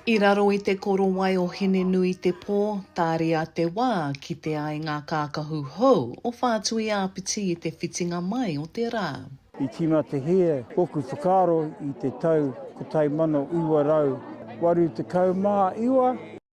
I raro i te korowai o Hine-nui-te-pō, tāria te wā ki te ai ngā kākahu hou o Whātui-ā-Piti i te whitinga mai o te rā. I tīmā te hē ōku whakaaro i te tau 1989.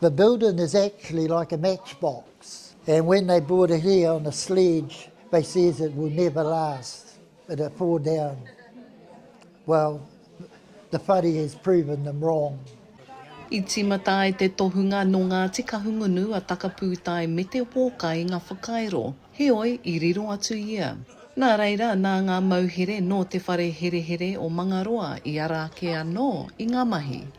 The building is actually like a match box and when they bought it here on a sledge they says it will never last it will fall down well the whare has proven them wrong. I tīmata ai te tohunga nō Ngāti Kahungunu a Takapūtae me Te Wōkai i ngā whakairo, heoi i riro atu ia. Nā reira, nā ngā mauhere nō te whare herehere o Mangaroa i ara ake anō i ngā mahi.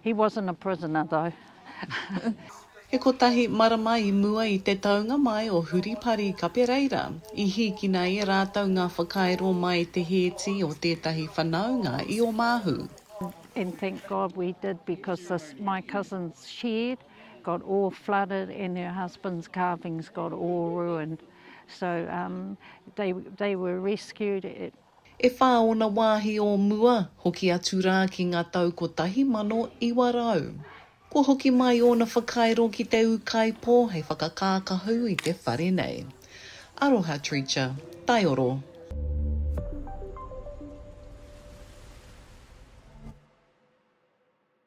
He wasn't a prisoner though. He kotahi marama i mua i te taunga mai o Huripari Kapereira, i hīkina e rātou ngā whakairo mai te hēti o tētahi whanaunga i Omāhu. And thank God we did because the my cousin's shed got all flooded and her husband's carvings got all ruined so um they they were rescued. e whā ōna wāhi o mua, hoki atu rā ki ngā tau 1900. Kua hoki mai ōna whakairo ki te ūkaipō hei whakakākahu i te whare nei. Aroha Treacher, Taioro.